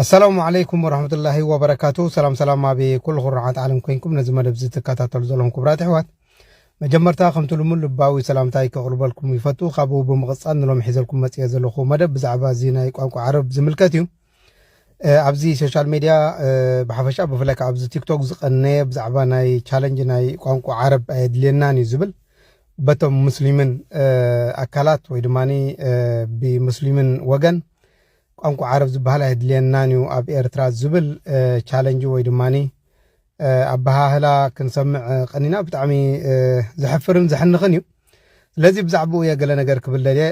ኣሰላሙ ዓለይኩም ወረሕመቱላሂ ወበረካቱ ሰላም ሰላም ኣብ ኩሉ ኩርዓት ዓለም ኮይንኩም ነዚ መደብ እዚ ትከታተሉ ዘለኹም ክብራት ኣሕዋት መጀመርታ ከምቲ ልሙን ልባዊ ሰላምታይ ከቕርበልኩም ይፈቱ ካብኡ ብምቕፃል ንሎም ሒዘልኩም መፅኦ ዘለኹ መደብ ብዛዕባ እዚ ናይ ቋንቋ ዓረብ ዝምልከት እዩ ኣብዚ ሶሻል ሜድያ ብሓፈሻ ብፍላይ ካብ ኣብዚ ቲክቶክ ዝቐነየ ብዛዕባ ናይ ቻለንጅ ናይ ቋንቋ ዓረብ ኣየድልየናን እዩ ዝብል በቶም ሙስሊምን ኣካላት ወይ ድማ ብሙስሊምን ወገን ቋንቋ ዓረብ ዝበሃል ኣየድልየናን እዩ ኣብ ኤርትራ ዝብል ቻለንጅ ወይ ድማ ኣበሃህላ ክንሰምዕ ቀኒና ብጣዕሚ ዘሕፍርን ዘሕንኽን እዩ ስለዚ ብዛዕባኡ እየ ገለ ነገር ክብል ደልየ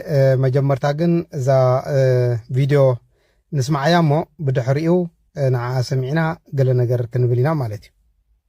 መጀመርታ ግን እዛ ቪድዮ ንስማዓያ እሞ ብድሕሪኡ ንዓኣ ሰሚዕና ገለ ነገር ክንብል ኢና ማለት እዩ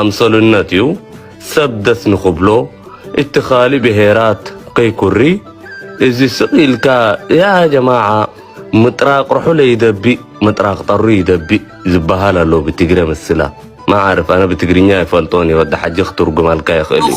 ኣምሰሉነት እዩ ሰብ ደስ ንክብሎ እቲ ካልእ ብሄራት ከይኩሪ እዚ ስቅ ኢልካ ያ ጀማዓ ምጥራቅ ርሑለ ይደቢእ ምጥራቅ ጠሩ ይደቢእ ዝበሃል ኣሎ ብትግረ ምስላ ማዓርፍ ኣነ ብትግርኛ ኣይፈልጦን እየ ወዲ ሓጂ ክትርጉማልካ ይክእል እዩ።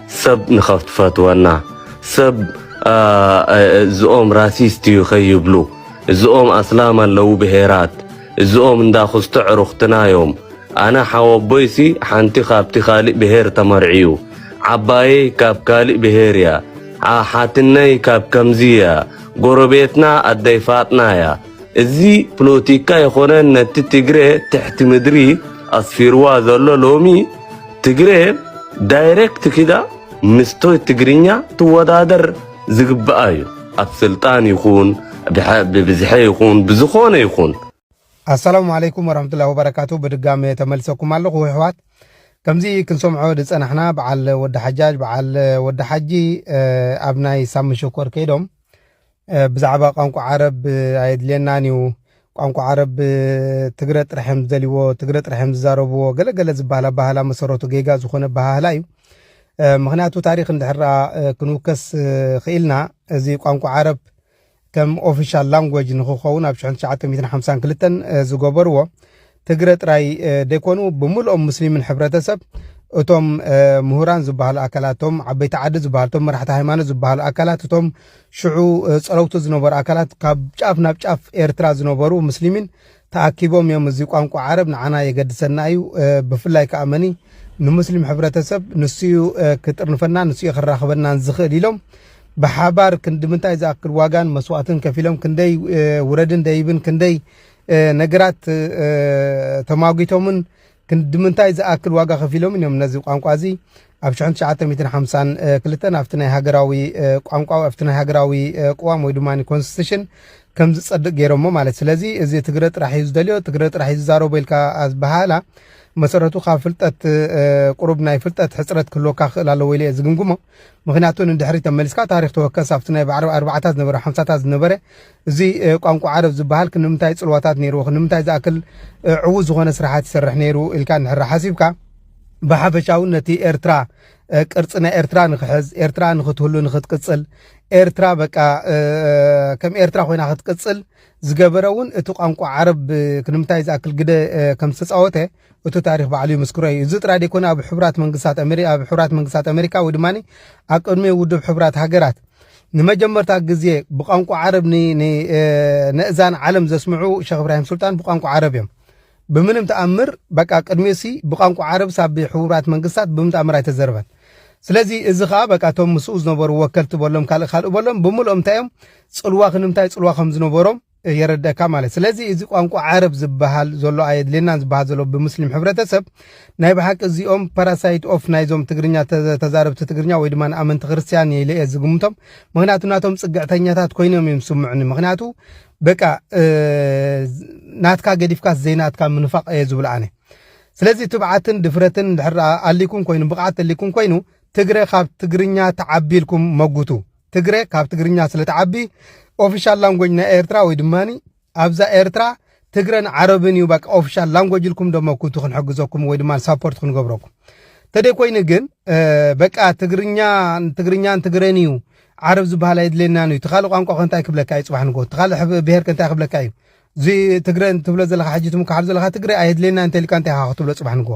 ሰብ ንኸትፈትወና ሰብ እዝኦም ራሲስት እዩ ከይብሉ እዝኦም ኣስላም ኣለዉ ብሄራት እዝኦም እንዳ ክስቶ ዕሩኽትና እዮም ኣነ ሓወቦይሲ ሓንቲ ካብቲ ካልእ ብሄር ተመርዕዩ ዓባየይ ካብ ካልእ ብሄር እያ ሓትነይ ካብ ከምዚ እያ ጎረቤትና ኣደይ ፋጥና እያ እዚ ፕሎቲካ የኾነ ነቲ ትግሬ ትሕቲ ምድሪ ኣስፊርዋ ዘሎ ሎሚ ትግሬ ዳይሬክት ኪዳ ምስቶይ ትግርኛ ትወዳደር ዝግብኣ እዩ ኣብ ስልጣን ይኹን ብብዝሐ ይኹን ብዝኾነ ይኹን ኣሰላሙ ዓለይኩም ወረሕመቱላሂ ወበረካቱ ብድጋሜ ተመልሰኩም ኣለኹ ኣሕዋት ከምዚ ክንሰምዖ ዝፀናሕና በዓል ወዲ ሓጃጅ በዓል ወዲ ሓጂ ኣብ ናይ ሳሚ ሸኮር ከይዶም ብዛዕባ ቋንቋ ዓረብ ኣየድልየናን እዩ፣ ቋንቋ ዓረብ ትግረ ጥራሕ እዮም ዝደልይዎ፣ ትግረ ጥራሕ እዮም ዝዛረብዎ፣ ገለ ገለ ዝበሃል ኣበሃህላ መሰረቱ ጌጋ ዝኾነ ኣበሃህላ እዩ። ምክንያቱ ታሪክ እንድሕር ክንውከስ ክኢልና እዚ ቋንቋ ዓረብ ከም ኦፊሻል ላንጎጅ ንክኸውን ኣብ 1952 ዝገበርዎ ትግረ ጥራይ ደይኮኑ ብምልኦም ሙስሊምን ሕብረተሰብ እቶም ምሁራን ዝበሃሉ ኣካላት እቶም ዓበይቲ ዓዲ ዝበሃሉ እቶም መራሕቲ ሃይማኖት ዝበሃሉ ኣካላት እቶም ሽዑ ፀለውቲ ዝነበሩ ኣካላት ካብ ጫፍ ናብ ጫፍ ኤርትራ ዝነበሩ ሙስሊሚን ተኣኪቦም እዮም እዚ ቋንቋ ዓረብ ንዓና የገድሰና እዩ ብፍላይ ከዓ መኒ ንሙስሊም ሕብረተሰብ ንስዩ ክጥርንፈና ንስዩ ክራኽበናን ዝኽእል ኢሎም ብሓባር ክንዲ ምንታይ ዝኣክል ዋጋን መስዋእትን ከፊሎም ክንደይ ውረድን ደይብን ክንደይ ነገራት ተማጒቶምን ክንድምንታይ ዝኣክል ዋጋ ከፊሎምን እዮም ነዚ ቋንቋ እዚ ኣብ 1952 ኣብቲ ናይ ሃገራዊ ቋንቋ ኣብቲ ናይ ሃገራዊ ቅዋም ወይ ድማ ኮንስቲቱሽን ከም ዝጸድቕ ገይሮሞ ማለት ስለዚ እዚ ትግረ ጥራሕ እዩ ዝደልዮ ትግረ ጥራሕ እዩ ዝዛረቦ ኢልካ ዝበሃላ መሰረቱ ካብ ፍልጠት ቁሩብ ናይ ፍልጠት ሕፅረት ክህልወካ ክኽእል ኣለዎ ኢለ እየ ዝግምግሞ ምክንያቱ ንድሕሪት ተመሊስካ ታሪክ ተወከስ ኣብቲ ናይ ባዕሪ ኣርባዓታት ዝነበረ ሓምሳታት ዝነበረ እዚ ቋንቋ ዓረብ ዝበሃል ክንምንታይ ጽልዋታት ነይርዎ ክንምንታይ ዝኣክል ዕዉት ዝኾነ ስራሓት ይሰርሕ ነይሩ ኢልካ እንድሕር ሓሲብካ ብሓፈሻ እውን ነቲ ኤርትራ ቅርፂ ናይ ኤርትራ ንክሕዝ ኤርትራ ንክትህሉ ንክትቅፅል ኤርትራ በቃ ከም ኤርትራ ኮይና ክትቅፅል ዝገበረ እውን እቲ ቋንቋ ዓረብ ክንምታይ ዝኣክል ግደ ከም ዝተፃወተ እቲ ታሪኽ ባዕሉ ይምስክሮ እዩ። እዚ ጥራይ ደይኮነ ኣብ ሕቡራት መንግስታት ኣመሪ ኣብ ሕቡራት መንግስታት ኣመሪካ ወይ ድማ ኣብ ቅድሚ ውድብ ሕቡራት ሃገራት ንመጀመርታ ግዜ ብቋንቋ ዓረብ ን- ን- እ፣ ነእዛን ዓለም ዘስምዑ ሸኽ እብራሂም ሱልጣን ብቋንቋ ዓረብ እዮም። ብምንም ተኣምር በቃ ቅድሚኡሲ ብቋንቋ ዓረብስ ኣብ ሕቡራት መንግስታት ብምንም ተኣምር ኣይተዘርበን። ስለዚ እዚ ከኣ በቃ እቶም ምስኡ ዝነበሩ ወከልቲ በሎም ካልእ ካልእ በሎም ብምልኦም እንታይ እዮም ጽልዋ ክንምታይ ጽልዋ ከም ዝነበሮም የረደእካ ማለት ስለዚ እዚ ቋንቋ ዓረብ ዝባሃል ዞሎ ኣየድልየናን ዝባሃል ዞሎ ብምስሊም ሕብረተሰብ ናይ ብሓቂ እዚኦም ፓራሳይት ኦፍ ናይዞም ትግርኛ ተዛረብቲ ትግርኛ ወይ ድማ ኣመንቲ ክርስትያን ኢለ እየ ዝግምቶም ምክንያቱ ናቶም ጽግዕተኛታት ኮይኖም እዮም ስምዑኒ ምክንያቱ በቃ ናትካ ገዲፍካስ ዘይናትካ ምንፋቅ እየ ዝብሎ ኣነ ስለዚ ትብዓትን ድፍረትን ድሕር ኣሊኩም ኮይኑ ብቅዓት ተሊኩም ኮይኑ ትግረ ካብ ትግርኛ ተዓቢልኩም መጉቱ ትግረ ካብ ትግርኛ ስለ ትዓቢ ኦፊሻል ላንጎጅ ናይ ኤርትራ ወይ ድማ ኣብዛ ኤርትራ ትግረን ዓረብን እዩ በቃ ኦፊሻል ላንጎጅ ኢልኩም ደሞ ኩቱ ክንሕግዘኩም ወይ ድማ ሳፖርት ክንገብረኩም ተደይ ኮይኑ ግን በቃ ትግርኛ ትግርኛን ትግረን እዩ ዓረብ ዝበሃል ኣየድልየናን እዩ ትኻልእ ቋንቋ ከ እንታይ ክብለካ እዩ ፅባሕ ንጎ ትኻልእ ብሄር ከ እንታይ ክብለካ እዩ እዚ ትግረ ትብሎ ዘለካ ሕጂ ትምካሓሉ ዘለካ ትግረ ኣየድልየና እንተ ኢልካ እንታይ ኢኻ ክትብሎ ፅባሕ ንጎ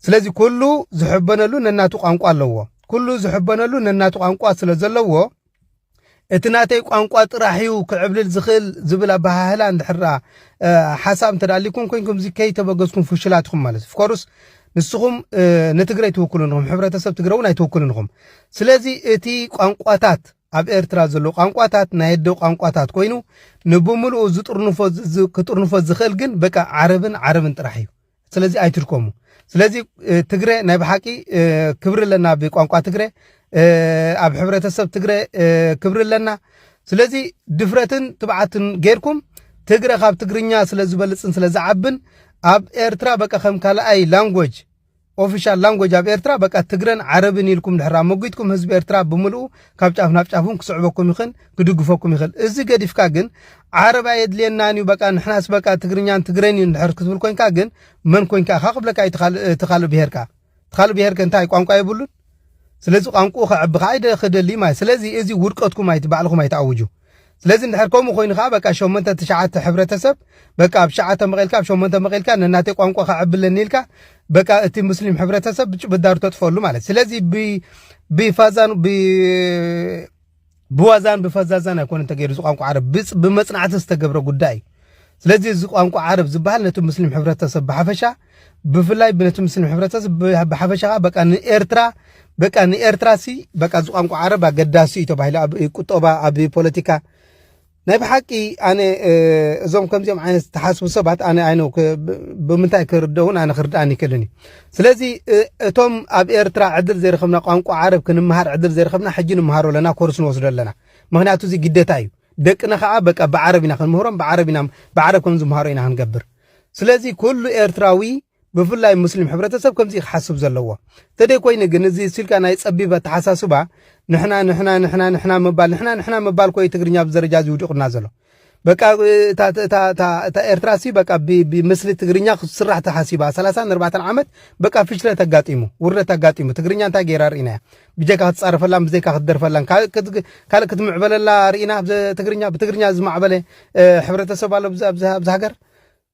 ስለዚ ኩሉ ዝሕበነሉ ነናቱ ቋንቋ ኣለዎ ኩሉ ዝሕበነሉ ነናቱ ቋንቋ ስለ ዘለዎ እቲ ናተይ ቋንቋ ጥራሕ እዩ ክዕብልል ዝኽእል ዝብል ኣበሃህላ እንድሕራ ሓሳብ እንተዳሊኩም ኮንኩም እዚ ከይተበገዝኩም ፍሽላት ኢኹም ማለት እዩ ፍኮርስ ንስኹም ንትግረ ኣይትውክሉን ኢኹም ሕብረተሰብ ትግረ እውን ኣይትውክሉን ኢኹም ስለዚ እቲ ቋንቋታት ኣብ ኤርትራ ዘሎ ቋንቋታት ናይ ኣደ ቋንቋታት ኮይኑ ንብምልኡ ዝጥርንፎ ክጥርንፎ ዝኽእል ግን በቃ ዓረብን ዓረብን ጥራሕ እዩ ስለዚ ኣይትድከሙ ስለዚ ትግረ ናይ ብሓቂ ክብሪ ኣለና ብቋንቋ ትግረ ኣብ ሕብረተሰብ ትግረ ክብሪ ኣለና ስለዚ ድፍረትን ትብዓትን ጌርኩም ትግረ ካብ ትግርኛ ስለ ዝበልፅን ስለ ዝዓብን ኣብ ኤርትራ በቃ ከም ካልኣይ ላንጎጅ ኦፊሻል ላንጎጅ ኣብ ኤርትራ በቃ ትግረን ዓረብን ኢልኩም ድሕር ኣመጒትኩም ህዝቢ ኤርትራ ብምልኡ ካብ ጫፍ ናብ ጫፍን ክስዕበኩም ይኽእል ክድግፈኩም ይኽእል እዚ ገዲፍካ ግን ዓረብ ኣየድልየናን እዩ በቃ ንሕናስ በቃ ትግርኛን ትግረን እዩ ንድሕር ክትብል ኮንካ ግን መን ኮንካ ኢኻ ክብለካ እዩ እቲ ካልእ ብሄርካ እቲ ካልእ ብሄርከ እንታይ ቋንቋ የብሉን ስለዚ ቋንቋኡ ከዕቢ ከዓ ኣይደ ክደሊ ማይ ስለዚ እዚ ውድቀትኩም ኣይቲ ባዕልኹም ኣይትኣውጁ ስለዚ እንድሕር ከምኡ ኮይኑ ከዓ በቃ ሸሞንተ ትሽዓተ ሕብረተሰብ በቃ ኣብ ሸዓተ መቂልካ ኣብ ሸሞንተ መቂልካ ነናተይ ቋንቋ ከዕብለኒ ኢልካ በቃ እቲ ሙስሊም ሕብረተሰብ ብዳሩ ተጥፈሉ ማለት ስለዚ ብፋዛን ብዋዛን ብፈዛዛን ኣይኮነን ተገይሩ እዚ ቋንቋ ዓረብ ብጽ- ብመጽናዕቲ ዝተገብረ ጉዳይ እዩ ስለዚ እዚ ቋንቋ ዓረብ ዝበሃል ነቲ ሙስሊም ሕብረተሰብ ብሓፈሻ ብፍላይ ነቲ ሙስሊም ሕብረተሰብ ብ- ብሓፈሻ ከዓ በቃ ንኤርትራ በቃ ንኤርትራ ሲ በቃ እዚ ቋንቋ ዓረብ ኣገዳሲ እዩ ተባሂሉ ኣብ ቁጠባ ኣብ ፖለቲካ ናይ ብሓቂ ኣነ እዞም ከምዚኦም ዓይነት ዝተሓስቡ ሰባት ኣነ ኣይነ ብምንታይ ክርደውን ኣነ ክርድኣን ይክእልን እዩ ስለዚ እቶም ኣብ ኤርትራ ዕድል ዘይረኸብና ቋንቋ ዓረብ ክንምሃር ዕድል ዘይረኸብና ሕጂ ንምሃሮ ኣለና ኮርስ ንወስዶ ኣለና ምክንያቱ እዚ ግደታ እዩ ደቅና ከዓ በቃ ብዓረብ ኢና ክንምህሮም ብዓረብ ኢና ብዓረብ ከም ዝምሃሮ ኢና ክንገብር ስለዚ ኩሉ ኤርትራዊ ብፍላይ ሙስሊም ሕብረተሰብ ከምዚ እዩ ክሓስብ ዘለዎ ተደይኮይኑ ግን እዚ እሱኢልካ ናይ ፀቢብ ኣተሓሳስባ ንሕና ንሕና ንሕና ንሕና ምባል ንሕና ንሕና ምባል ኮዩ ትግርኛ ኣብዚ ደረጃ እዚ ውዲቑና ዘሎ በቃ እታ ኤርትራ ሲ በቃ ብምስሊ ትግርኛ ክስራሕ ተሓሲባ ሰላሳን ኣርባዕተን ዓመት በቃ ፍሽለት ኣጋጢሙ ውርደት ኣጋጢሙ ትግርኛ እንታይ ገይራ ርኢናያ ብጀካ ክትፃረፈላን ብዘይካ ክትደርፈላን ካልእ ክትምዕበለላ ርኢና ትግርኛ ብትግርኛ ዝማዕበለ ሕብረተሰብ ኣሎ ኣብዚ ሃገር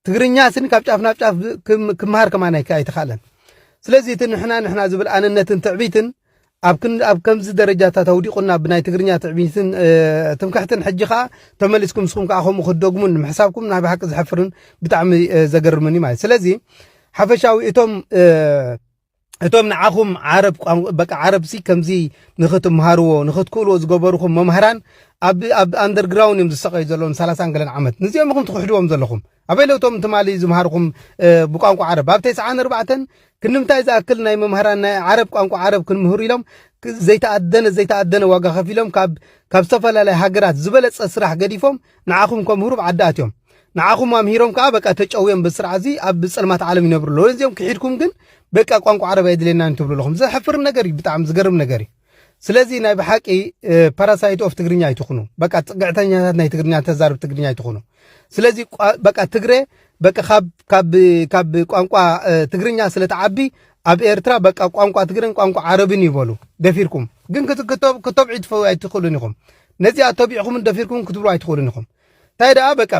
ትግርኛ ስኒ ካብ ጫፍ ናብ ጫፍ ክመሃር ከማን ኣይተኻእለን ስለዚ እቲ ንሕና ንሕና ዝብል ኣነነትን ትዕቢትን ኣብ ከምዚ ደረጃታት ኣውዲቑና ብናይ ትግርኛ ትዕቢትን ትምክሕትን ሕጂ ከዓ ተመሊስኩም ንስኹም ከዓ ከምኡ ክትደግሙን ንምሕሳብኩም ናይ ብሓቂ ዝሕፍርን ብጣዕሚ ዘገርምን እዩ ማለት ስለዚ ሓፈሻዊ እቶም እቶም ንዓኹም ዓረብ ቋንቋ በቃ ዓረብሲ ከምዚ ንኽትምሃርዎ ንኽትክእልዎ ዝገበርኹም መምሃራን ኣብ ኣብ ኣንደርግራውንድ እዮም ዝሰቀዩ ዘለዉ ንሰላሳን ገለን ዓመት ንዚኦም ኢኹም ትኽሕድዎም ዘለኹም ኣበይ ለውቶም ትማሊ ዝምሃርኹም ብቋንቋ ዓረብ ኣብ ተስዓን ኣርባዕተን ክንምታይ ዝኣክል ናይ መምሃራን ናይ ዓረብ ቋንቋ ዓረብ ክንምህሩ ኢሎም ዘይተኣደነ ዘይተኣደነ ዋጋ ከፊሎም ካብ ካብ ዝተፈላለየ ሃገራት ዝበለፀ ስራሕ ገዲፎም ንዓኹም ከም ህሩብ ዓዲ ኣትዮም ንዓኹም ኣምሂሮም ከኣ በቃ ተጨውዮም በዚ ስርዓት እዚ ኣብ ጸልማት ዓለም ይነብሩ ኣለዉ ነዚኦም ክሒድኩም ግን በቃ ቋንቋ ዓረብ ኣይድልየናን ትብሉ ኣለኹም ዘሕፍር ነገር እዩ ብጣዕሚ ዝገርም ነገር እዩ ስለዚ ናይ ብሓቂ ፓራሳይት ኦፍ ትግርኛ ኣይትኹኑ በቃ ፅግዕተኛታት ናይ ትግርኛ ተዛርብ ትግርኛ ኣይትኹኑ ስለዚ በቃ ትግረ በቃ ካብ ካብ ካብ ቋንቋ ትግርኛ ስለተዓቢ ኣብ ኤርትራ በቃ ቋንቋ ትግረን ቋንቋ ዓረብን ይበሉ ደፊርኩም ግን ክተብዒ ትፈው ኣይትኽእሉን ኢኹም ነዚኣ ተቢዕኹምን ደፊርኩምን ክትብሉ ኣይትኽእሉን ኢኹም። እንታይ ደኣ በቃ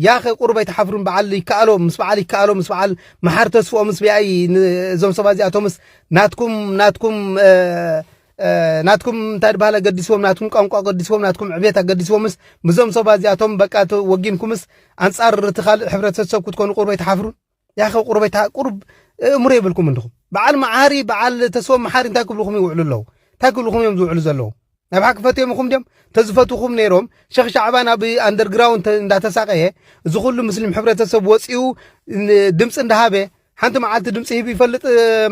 ያኸ ቁሩብ ኣይትሓፍሩን በዓል ይከኣሎ ምስ በዓል ይከኣሎ ምስ በዓል መሓር ተስፍኦ ምስ ቢኣይ እዞም ሰባት እዚኣቶምስ ናትኩም ናትኩም ናትኩም እንታይ ድበሃል ኣገዲስዎም ናትኩም ቋንቋ ኣገዲስዎም ናትኩም ዕብየት ኣገዲስዎምስ ምዞም ሰባት እዚኣቶም በቃ ወጊንኩምስ ኣንጻር እቲ ካልእ ሕብረተሰብ ክትኮኑ ቁሩብ ኣይትሓፍሩን ያኸ ቁርበይ ታ ቁርብ እእምሮ የብልኩም እንድኹም በዓል መዓሪ በዓል ተስፎ መሓሪ እንታይ ክብልኹም ይውዕሉ ኣለዉ እንታይ ክብልኹም እዮም ዝውዕሉ ዘለዉ ናብ ሓቂ ፈትዮም ይኹም ድዮም ተዝፈትኹም ነይሮም ሸኽ ሻዕባን ኣብ ኣንደርግራውንድ እንዳተሳቀየ እዚ ኩሉ ምስሊም ሕብረተሰብ ወፂኡ ድምፂ እንዳሃበ ሓንቲ መዓልቲ ድምፂ ሂቡ ይፈልጥ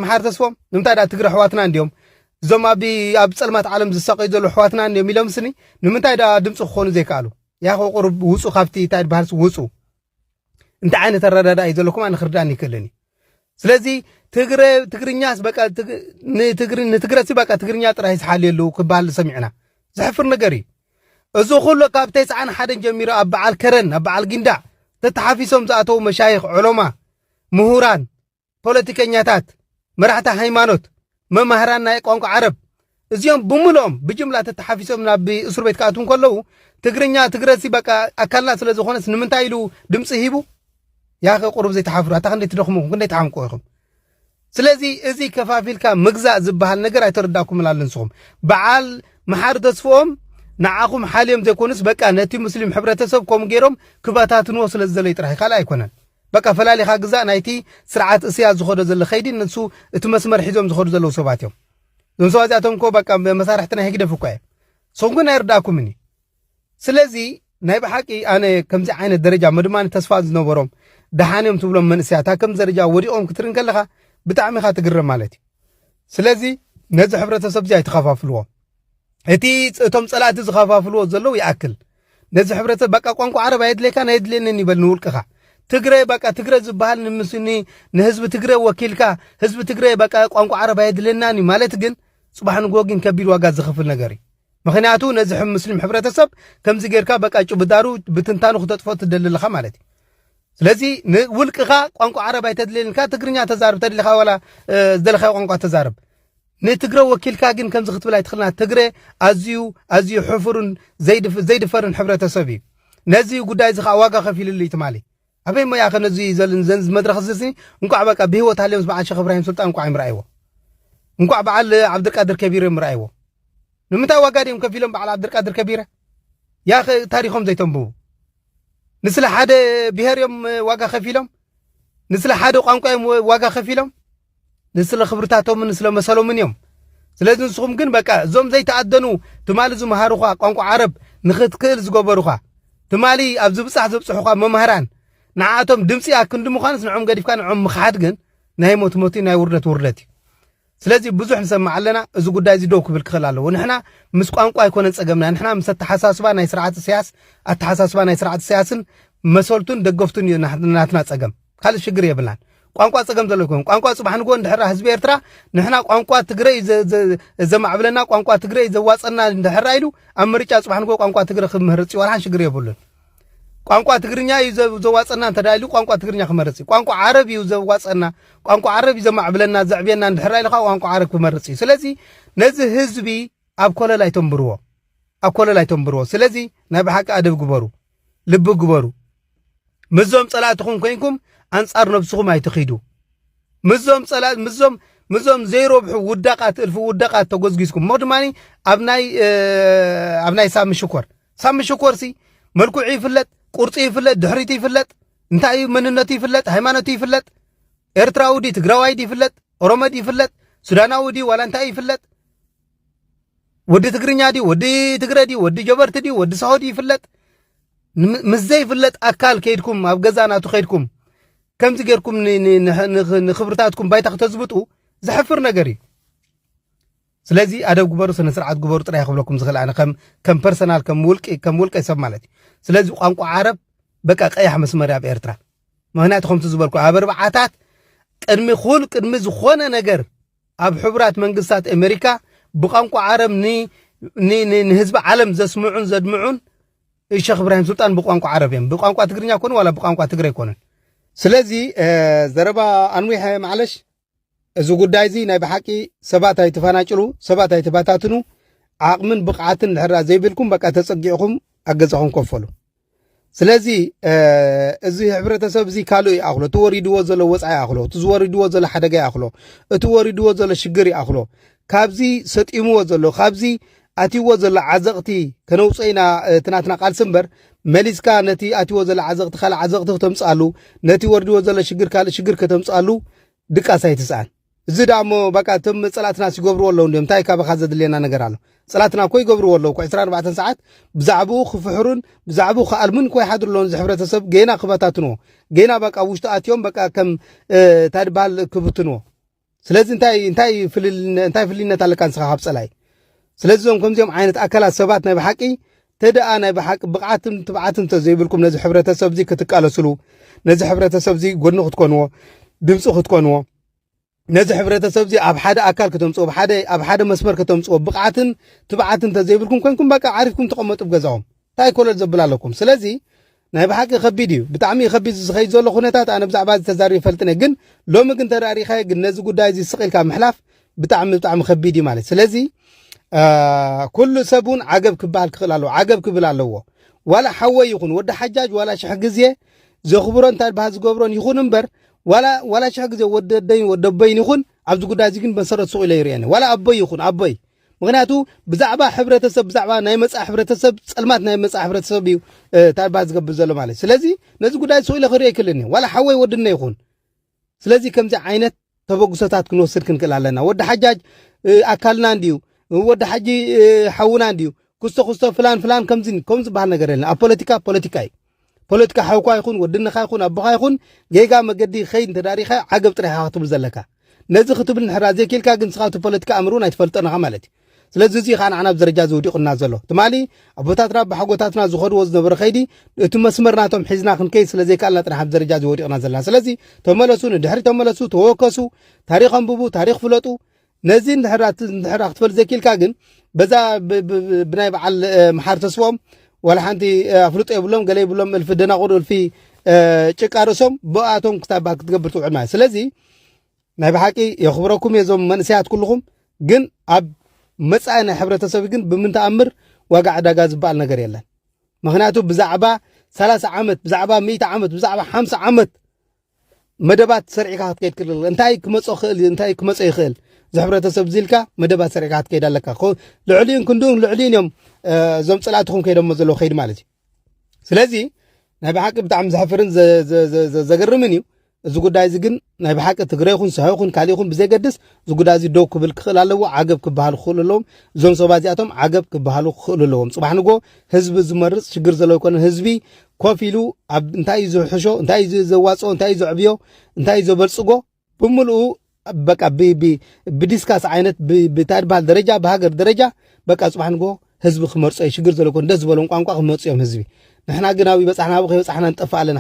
መሓር ተስፎም ንምንታይ ዳ ትግረ ኣሕዋትና እንዲዮም እዞም ኣብ ኣብ ፀልማት ዓለም ዝሳቀዩ ዘለዉ ኣሕዋትና እንዲዮም ኢሎም ስኒ ንምንታይ ዳ ድምፂ ክኾኑ ዘይከኣሉ ያኸ ቁሩብ ውፁ ካብቲ እንታይ ድበሃልሲ ውፁ እንታይ ዓይነት ኣረዳዳ እዩ ዘለኩም ኣነ ክርዳእን ይክእልን እዩ ስለዚ ትግረ ትግርኛስ በቃ ንትግሪ ንትግረሲ በቃ ትግርኛ ጥራይ ዝሓልየሉ ክበሃል ሰሚዕና ዘሕፍር ነገር እዩ እዚ ኩሉ ካብ ተስዓን ሓደን ጀሚሩ ኣብ በዓል ከረን ኣብ በዓል ጊንዳዕ ተተሓፊሶም ዝኣተዉ መሻይኽ ዑለማ ምሁራን ፖለቲከኛታት፣ መራሕቲ ሃይማኖት፣ መማህራን ናይ ቋንቋ ዓረብ እዚኦም ብምልኦም ብጅምላ ተተሓፊሶም ናብ እስር ቤት ክኣትዉ ከለዉ ትግርኛ ትግረሲ በቃ ኣካልና ስለ ዝኾነስ ንምንታይ ኢሉ ድምፂ ሂቡ ያኸ ቁሩብ ዘይተሓፍሩ ኣታ ክንደይ ትደኽሙ ክንደይ ተሓምቁ ኢኹም ስለዚ እዚ ከፋፊልካ ምግዛእ ዝበሃል ነገር ኣይተረዳእኩምን ኣሎ ንስኹም በዓል መሓሪ ተስፍኦም ንዓኹም ሓልዮም ዘይኮኑስ በቃ ነቲ ሙስሊም ሕብረተሰብ ከምኡ ገይሮም ክበታትንዎ ስለ ዝደለዩ ጥራሕ ካልእ ኣይኮነን በቃ ፈላሊኻ ግዛእ ናይቲ ስርዓት እስያስ ዝኸዶ ዘሎ ከይዲ ንሱ እቲ መስመር ሒዞም ዝኸዱ ዘለዉ ሰባት እዮም እዞም ሰባት እዚኣቶም እኮ በቃ መሳርሕቲ ናይ ህግደፍ እኳ እዮም ንስኹም ግን ኣይርዳእኩምን እዩ ስለዚ ናይ ብሓቂ ኣነ ከምዚ ዓይነት ደረጃ ምድማን ተስፋ ዝነበሮም ደሓን እዮም ትብሎም መንእሰያት ኣብ ከምዚ ደረጃ ወዲቖም ክትርኢ ከለኻ ብጣዕሚ ኢኻ ትግረም ማለት እዩ ስለዚ ነዚ ሕብረተሰብ እዚ ኣይተኸፋፍልዎ እቲ እቶም ጸላእቲ ዝኸፋፍልዎ ዘለዉ ይኣክል ነዚ ሕብረተሰብ በቃ ቋንቋ ዓረብ ኣየድልየካን ኣየድልየንን ይበል ንውልቅኻ ትግረ በቃ ትግረ ዝበሃል ንምስኒ ንህዝቢ ትግረ ወኪልካ ህዝቢ ትግረ በቃ ቋንቋ ዓረብ ኣየድልየናን እዩ ማለት ግን ጽባሕ ንጎ ግን ከቢድ ዋጋ ዝኽፍል ነገር እዩ ምክንያቱ ነዚ ሙስሊም ሕብረተሰብ ከምዚ ጌርካ በቃ ጭብዳሩ ብትንታኑ ክተጥፎ ትደሊ ኣለኻ ማለት እዩ ስለዚ ንውልቅኻ ቋንቋ ዓረብ ኣይተድልየልካ ትግርኛ ተዛርብ ተድልኻ ዋላ ዝደለኻዮ ቋንቋ ተዛርብ ንትግረ ወኪልካ ግን ከምዚ ክትብል ኣይትኽእልናን። ትግረ ኣዝዩ ኣዝዩ ሕፉርን ዘይድፈርን ሕብረተሰብ እዩ። ነዚ ጉዳይ እዚ ከዓ ዋጋ ከፊልሉ እዩ ትማሊ። ኣበይ እሞ ያኸ ነዚ ዘንዝ መድረኽ እዚስኒ እንኳዕ በቃ ብህይወት ሃልዮምስ በዓል ሸኽ እብራሂም ስልጣን እንኳዕ እዮም ረኣይዎ እንኳዕ በዓል ዓብድልቃድር ከቢር እዮም ረኣይዎ ንምንታይ ዋጋ ድዮም ከፊሎም በዓል ዓብድልቃድር ከቢረ ያኸ ታሪኾም ዘይተንብቡ ንስለ ሓደ ብሄር እዮም ዋጋ ከፊሎም ንስለ ሓደ ቋንቋ እዮም ዋጋ ከፊሎም ንስለ ክብርታቶምን ስለ መሰሎምን እዮም ስለዚ ንስኹም ግን በቃ እዞም ዘይተኣደኑ ትማሊ ዝመሃሩኻ ቋንቋ ዓረብ ንኽትክእል ዝገበሩኻ ትማሊ ኣብ ዝብጻሕ ዘብጽሑኻ መምህራን ንዓኣቶም ድምፂ ኣክንዲ ምዃንስ ንዖም ገዲፍካ ንዖም ምኽሓድ ግን ናይ ሞት ሞት ናይ ውርደት ውርደት እዩ ስለዚ ብዙሕ ንሰምዕ ኣለና እዚ ጉዳይ እዚ ደው ክብል ክኽእል ኣለዎ ንሕና ምስ ቋንቋ ኣይኮነን ጸገምና ንሕና ምስ ኣተሓሳስባ ናይ ስርዓት እሰያስ ኣተሓሳስባ ናይ ስርዓት እሰያስን መሰልቱን ደገፍቱን እዩ ናትና ጸገም ካልእ ሽግር የብልናን ቋንቋ ጸገም ዘሎ ይኮን ቋንቋ ጽባሕ ንግሆ እንድሕራ ህዝቢ ኤርትራ ንሕና ቋንቋ ትግረ እዩ ዘማዕብለና ቋንቋ ትግረ እዩ ዘዋጸና እንድሕራ ኢሉ ኣብ ምርጫ ጽባሕ ንግሆ ቋንቋ ትግረ ክምህርጽ እዩ ዋላሓን ሽግር የብሉን ቋንቋ ትግርኛ እዩ ዘዋጸና እንተ ኢሉ ቋንቋ ትግርኛ ክመርጽ እዩ ቋንቋ ዓረብ እዩ ዘዋጸና ቋንቋ ዓረብ እዩ ዘማዕብለና ዘዕብየና እንድሕራ ኢሉ ከዓ ቋንቋ ዓረብ ክመርጽ እዩ ስለዚ ነዚ ህዝቢ ኣብ ኮለል ኣይተንብርዎ ኣብ ኮለል ኣይተንብርዎ ስለዚ ናይ ብሓቂ ኣደብ ግበሩ ልቢ ግበሩ። ምስዞም ጸላእትኹም ኮይንኩም ኣንጻር ነብስኹም ኣይትኺዱ። ምስዞም ጸላእ ምስዞም ምስዞም ዘይረብሑ ውዳቃት እልፊ ውዳቃት ተጎዝጊዝኩም እሞ ድማ ኣብ ናይ ኣብ ናይ ሳሚ ሽኮር ሳሚ ሽኮር ሲ መልክዑ ይፍለጥ፣ ቁርፂ ይፍለጥ፣ ድሕሪቱ ይፍለጥ፣ እንታይ እዩ መንነቱ ይፍለጥ፣ ሃይማኖቱ ይፍለጥ፣ ኤርትራዊ ዲ ትግራዋይ ዲ ይፍለጥ፣ ኦሮሞ ዲ ይፍለጥ፣ ሱዳናዊ ዲ ዋላ እንታይ ይፍለጥ ወዲ ትግርኛ ድዩ ወዲ ትግረ ድዩ ወዲ ጀበርቲ ድዩ ወዲ ሰሆ ድዩ ይፍለጥ ምስ ዘይፍለጥ ኣካል ከይድኩም ኣብ ገዛ ናቱ ከይድኩም ከምዚ ጌርኩም ንክብርታትኩም ባይታ ክተዝብጡ ዘሕፍር ነገር እዩ ስለዚ ኣደብ ግበሩ ስነ ስርዓት ግበሩ ጥራይ ክብለኩም ዝኽእል ኣነ ከም ፐርሰናል ከም ውልቂ ከም ውልቀ ሰብ ማለት እዩ ስለዚ ቋንቋ ዓረብ በቃ ቀያሕ መስመር ኣብ ኤርትራ ምክንያቱ ከምቲ ዝበልኩ ኣብ ኣርባዓታት ቅድሚ ኩል ቅድሚ ዝኾነ ነገር ኣብ ሕቡራት መንግስታት ኣሜሪካ ብቋንቋ ዓረብ ንህዝቢ ዓለም ዘስምዑን ዘድምዑን ሸኽ እብራሂም ሱልጣን ብቋንቋ ዓረብ እዮም። ብቋንቋ ትግርኛ ኮኑ ዋላ ብቋንቋ ትግረ ኣይኮነን። ስለዚ ዘረባ ኣንዊሐ ማዕለሽ እዚ ጉዳይ እዚ ናይ ብሓቂ ሰባት ኣይትፈናጭሉ፣ ሰባት ኣይትበታትኑ፣ ዓቕምን ብቕዓትን ድሕራ ዘይብልኩም በቃ ተጸጊዕኹም ኣብ ገዛኹም ኮፈሉ። ስለዚ እዚ ሕብረተሰብ እዚ ካልእ ይኣኽሎ እቲ ወሪድዎ ዘሎ ወፃኢ ይኣኽሎ እቲ ዝወሪድዎ ዘሎ ሓደጋ ይኣኽሎ እቲ ወሪድዎ ዘሎ ሽግር ይኣኽሎ ካብዚ ሰጢምዎ ዘሎ ካብዚ ኣትይዎ ዘሎ ዓዘቕቲ ከነውፅኦ ኢና እቲ ናትና ቃልሲ እምበር መሊስካ ነቲ ኣትይዎ ዘሎ ዓዘቕቲ ካልእ ዓዘቕቲ ክተምፅኣሉ ነቲ ወሪድዎ ዘሎ ሽግር ካልእ ሽግር ከተምፅኣሉ ድቃስ ኣይትስኣን እዚ ደኣ እሞ በቃ እቶም ጸላእትናስ ይገብርዎ ኣለዉ እንድዮም እንታይ ካባኻ ዘድልየና ነገር ኣሎ ጸላእትና እኮ ይገብርዎ ኣለዉ እኮ ዕስራን ኣርባዕተን ሰዓት ብዛዕብኡ ክፍሕሩን ብዛዕብኡ ክኣልሙን እኮ ይሓድሩ ኣለዉ እዚ ሕብረተሰብ ጌና ክበታትንዎ ጌና በቃ ኣብ ውሽጡ ኣትዮም በቃ ከም እ፣ እንታይ ድበሃል ክብትንዎ ስለዚ እንታይ እንታይ ፍልል እንታይ ፍልይነት ኣለካ ንስኻ ካብ ጸላኢ ስለዚ እዞም ከምዚኦም ዓይነት ኣካላት ሰባት ናይ ብሓቂ ተደኣ ናይ ብሓቂ ብቕዓትን ትብዓትን እንተዘይብልኩም ነዚ ሕብረተሰብ እዚ ክትቃለስሉ ነዚ ሕብረተሰብ እዚ ጎድኒ ክትኮንዎ ድምፂ ክትኮንዎ ነዚ ሕብረተሰብ እዚ ኣብ ሓደ ኣካል ከተምፅዎ ኣብ ሓደ መስመር ከተምፅዎ ብቕዓትን ትብዓትን እንተዘይብልኩም ኮንኩም በቃ ዓሪፍኩም ተቐመጡ ገዛኦም ታይ ኮለል ዘብል ኣለኩም ስለዚ ናይ ብሓቂ ከቢድ እዩ ብጣዕሚ እዩ ከቢድ እዚ ዝኸይድ ዘሎ ኩነታት ኣነ ብዛዕባ እዚ ተዛሪበ ይፈልጥን እየ ግን ሎሚ ግን ተደኣ ሪእኻዮ ግን ነዚ ጉዳይ እዚ ስቕ ኢልካ ምሕላፍ ብጣዕሚ ብጣዕሚ ከቢድ እዩ ማለት ስለዚ ኩሉ ሰብ እውን ዓገብ ክበሃል ክኽእል ኣለዎ ዓገብ ክብል ኣለዎ ዋላ ሓወይ ይኹን ወዲ ሓጃጅ ዋላ ሽሕ ግዜ ዘኽብሮ እንታ ባህ ዝገብሮን ይኹን እምበር ዋላ ዋላ ሽሕ ግዜ ወዲ ደይን ወዲ ኣቦይን ይኹን ኣብዚ ጉዳይ እዚ ግን መሰረት ሱቕ ኢለ ይርእየኒ ዋላ ኣቦይ ይኹን ኣቦይ ምክንያቱ ብዛዕባ ሕብረተሰብ ብዛዕባ ናይ መፃ ሕብረተሰብ ፀልማት ናይ መፃ ሕብረተሰብ እዩ ታይባ ዝገብር ዘሎ ማለት ስለዚ ነዚ ጉዳይ ሰው ኢለ ክሪኦ ይክልን ዋላ ሓወይ ወድነ ይኹን ስለዚ ከምዚ ዓይነት ተበግሶታት ክንወስድ ክንክእል ኣለና ወዲ ሓጃጅ ኣካልና እንድዩ ወዲ ሓጂ ሓውና እንድዩ ክስቶ ክስቶ ፍላን ፍላን ከምዚ ከም ዝበሃል ነገር የለን ኣብ ፖለቲካ ፖለቲካ እዩ ፖለቲካ ሓውካ ይኹን ወድነኻ ይኹን ኣቦኻ ይኹን ጌጋ መገዲ ክኸይድ እንተደኣ ሪኢኻ ዓገብ ጥራይ ኢኻ ክትብሉ ዘለካ። ነዚ ክትብል እንሕራ ዘይኪኢልካ ግን ንስኻ እቲ ፖለቲካ ኣምር እውን ኣይትፈልጦን ኢኻ ማለት እዩ። ስለዚ እዚ እዩ ከኣ ንዓና ኣብ ደረጃ እዚ ወዲቑና ዘሎ። ትማሊ ኣቦታትና ኣቦሓጎታትና ዝኸድዎ ዝነበረ ከይዲ እቲ መስመር ናቶም ሒዝና ክንከይድ ስለ ዘይከኣልና ጥራሕ ኣብዚ ደረጃ እዚ ወዲቕና ዘለና። ስለዚ ተመለሱ፣ ንድሕሪት ተመለሱ፣ ተወከሱ፣ ታሪኽ ኣንብቡ፣ ታሪኽ ፍለጡ፣ ነዚ እንድሕር እንድሕር ክትፈል ዘይክልካ ግን በዛ ብናይ በዓል መሓር ተስፎም ዋላ ሓንቲ ኣፍልጦ የብሎም ገለ ይብሎም እልፊ ደናቑር እልፊ ጭቃ ርእሶም ብኣቶም ክታባ ክትገብር ትውዕል ማለት ስለዚ ናይ ብሓቂ የኽብረኩም እየ እዞም መንእሰያት ኩልኹም ግን ኣብ መጻኢ ናይ ሕብረተሰብ ግን ብምንተኣምር ዋጋ ዕዳጋ ዝበሃል ነገር የለን ምክንያቱ ብዛዕባ ሰላሳ ዓመት ብዛዕባ ሚእቲ ዓመት ብዛዕባ ሓምሳ ዓመት መደባት ሰሪዕካ ክትከይድ ክልል እንታይ ክመፆ ክእል እንታይ ክመፆ ይኽእል እዚ ሕብረተሰብ እዚ ኢልካ መደባት ሰሪዕካ ክትከይድ ኣለካ ልዕሊኡን ክንድኡን ልዕሊኡን እዮም እዞም ፀላእትኹም ከይዶሞ ዘለዎ ከይዲ ማለት እዩ ስለዚ ናይ ብሓቂ ብጣዕሚ ዘሕፍርን ዘገርምን እዩ እዚ ጉዳይ እዚ ግን ናይ ብሓቂ ትግረ ይኹን ሰሐ ይኹን ካልእ ይኹን ብዘገድስ እዚ ጉዳይ እዚ ደው ክብል ክኽእል ኣለዎ ዓገብ ክበሃሉ ክኽእሉ ኣለዎም እዞም ሰባ እዚኣቶም ዓገብ ክበሃሉ ክኽእሉ ኣለዎም ፅባሕ ንጎ ህዝቢ ዝመርፅ ሽግር ዘለዎ ይኮነን ህዝቢ ኮፍ ኢሉ ኣብ እንታይ እዩ ዝሕሾ እንታይ እዩ ዘዋፅኦ እንታይ እዩ ዘዕብዮ እንታይ እዩ ዘበልፅጎ ብምልኡ በቃ ብዲስካስ ዓይነት ብታይ ድበሃል ደረጃ ብሃገር ደረጃ በቃ ፅባሕ ንጎ ህዝቢ ክመርፆ እዩ ሽግር ዘሎ ኮን ደስ ዝበሎም ቋንቋ ክመፁ እዮም ህዝቢ ንሕና ግን ኣብ ይበፃሕና ኣብ ከይበፃሕና ንጠፍእ ኣለና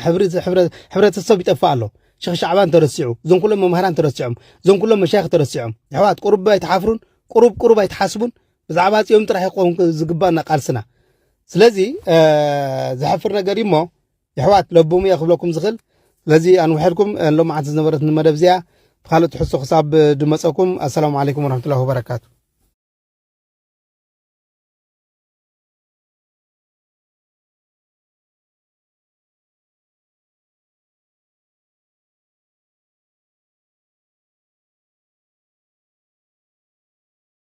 ሕብረተሰብ ይጠፍእ ኣሎ ሸኽ ሻዕባን ተረሲዑ እዞም ኩሎም መምሃራን ተረሲዖም እዞም ኩሎም መሻይኽ ተረሲዖም ኣሕዋት ቁሩብ ኣይትሓፍሩን ቁሩብ ቁሩብ ኣይትሓስቡን ብዛዕባ ጽዮን ጥራሕ ይኸውን ዝግባእና ቃልስና ስለዚ ዘሕፍር ነገር እሞ የሕዋት ለብሙ እየ ክብለኩም ዝኽእል ስለዚ ኣንውሐልኩም ሎማዓንቲ ዝነበረት ንመደብ እዚኣ ብካልእ ትሕሶ ክሳብ ድመፀኩም ኣሰላሙ ዓለይኩም ወረሕመቱላሂ ወበረካቱ